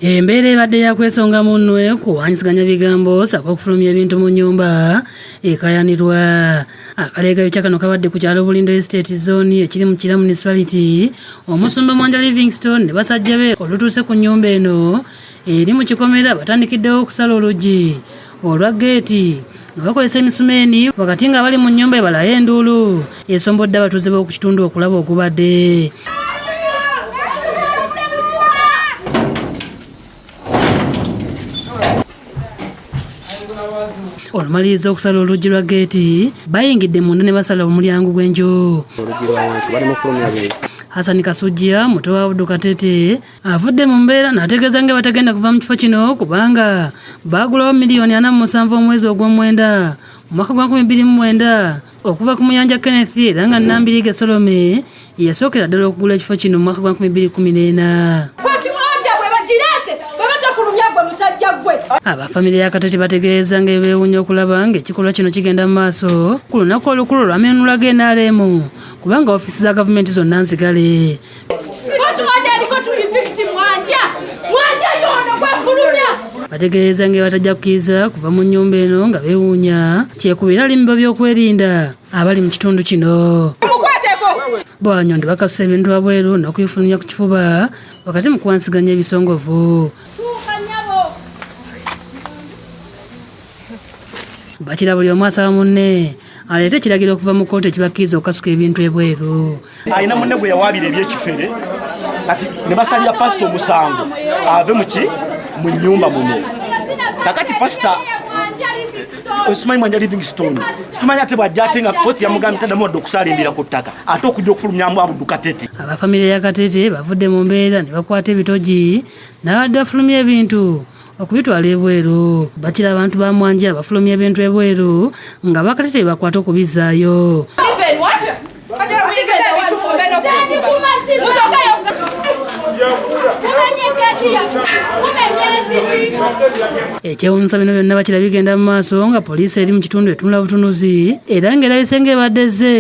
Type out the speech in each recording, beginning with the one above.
Embeera ebadde yakwesonga munwe kuwanyisaganya bigambo saka okufulumya ebintu mu nyumba ekayanirwa. Akaleega bitya kano kabadde ku kyalo Bulindo Estate Zone ekiri mu Kira Municipality, omusumba Mwanja Livingston ne basajja be olutuuse ku nyumba eno eri mu kikomera batandikiddewo okusala oluggi olwa ggeeti nga bakozesa emisumeeni wakati nga bali mu nnyumba ebalayo enduulu esombodde abatuuze b'oku kitundu okulaba ogubadde olumaliriza okusala oluggi lwa geeti bayingidde munda ne basala omulyango gw'enju hasani kasujja muto wa budu katete avudde mu mbeera n'ategeeza nga batagenda kuva mu kifo kino kubanga baagulawo miliyoni ana mu musanvu omwezi ogw'omwenda mu mwaka gwa 2009 okuva ku muyanja kenneth era nga nambiriga solome yasookera ddala okugula ekifo kino mu mwaka gwa 2014 aba famire ya katete bategeeza nga ebeewunya okulaba ng'ekikolwa kino kigenda mu maaso ku lunaku olukulu olwamenunula ga nrm kubanga ofiisi za gavumenti zonna nzigale bategeeza nga batajja kukkiriza kuva mu nnyumba eno nga bewuunya kyekubira alimba byokwerinda abali mu kitundu kino bwanyondo bakasusa ebintu wabweru n'okuyifulumya ku kifuba wakati mu kuwansiganya ebisongovu bakira buli omu asaba munne aleete ekiragiro okuva mu kkooti ekibakkiriza okukasuka ebintu ebweru alina munne gwe yawaabira ebyekifere kati ne basalira pasita omusango ave muki mu nyumba muno kakati pasita osimanyi mwanja living stone situmanyi ate bwajja ate nga koti yamugambye tadamu wadde okusalimbira ku ttaka ate okujja okufulumyamu abudu katete abafamire ya katete bavudde mu mbeera ne bakwata ebitogi n'abadde afulumya ebintu okubitwala ebweru bakira abantu ba mwanja bafulumya ebintu ebweru nga bakati tebakwata okubizaayo ekyewunyisa bino byonna bakira bigenda mu maaso nga poliisi eri mu kitundu etunula butunuzi era ng'erabise ng'ebadde ze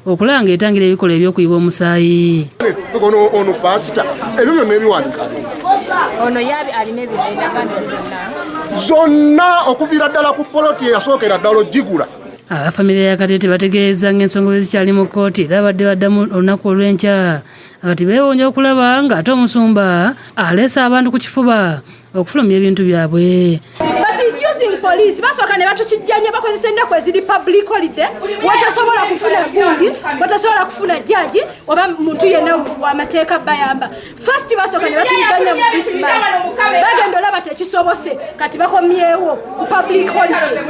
okulaba ng'etangira ebikolwa eby'okuyiba omusaayi ono ono paasita ebyo byonna ebiwandiika ono yabi alina ebinagano byonna zonna okuviira ddala ku poloti eyasookera ddala ogigula abafamire ya katete bategeeza ng'ensonga bwe zikyali mu kkooti era badde baddamu olunaku olw'enkya kati beewuunya okulaba ng'ate omusumba aleese abantu ku kifuba okufulumya ebintu byabwe poliisi basooka ne batukijjanya bakozesa ennaku eziri public holiday wetasobola kufuna gundi wetasobola kufuna jaji oba muntu yenna wamateeka bayamba fast basooka ne batuyiganya mu krismas bagenda olaba tekisobose kati bakomyewo ku public holiday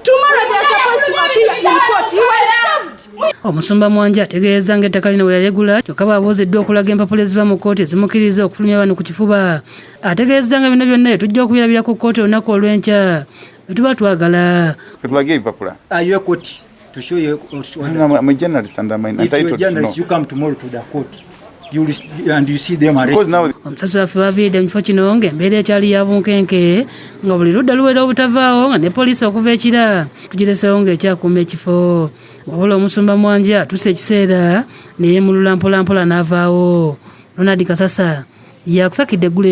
tomorrow they are supposed to appear in court he was served omusumba mwanje ategeeza ng'ettaka lino bwe yalegula kyokka baabuuziddwa okulaga empapula eziva mu kkooti ezimukiriza okufulumya bano ku kifuba ategeezezza nga bino byonna tujja okubirabira ku kkooti olunaku olw'enkya bwetuba twagala tulage ebipapula ayo ekoti to show you I'm, I'm a journalist and I'm entitled if you're a journalist, to know. you come tomorrow to the court you and you see them arrested now omusasi waffe baviidde mu kifo kino ng'embeera ekyali ya bunkenke nga buli ludda luwera obutavaawo nga ne poliisi okuva ekira tugiresewo ng'ekyakuuma ekifo wabula omusumba mwanje atuuse ekiseera neyemulula mpolampola n'avaawo ronald kasasa yakusakidde eggule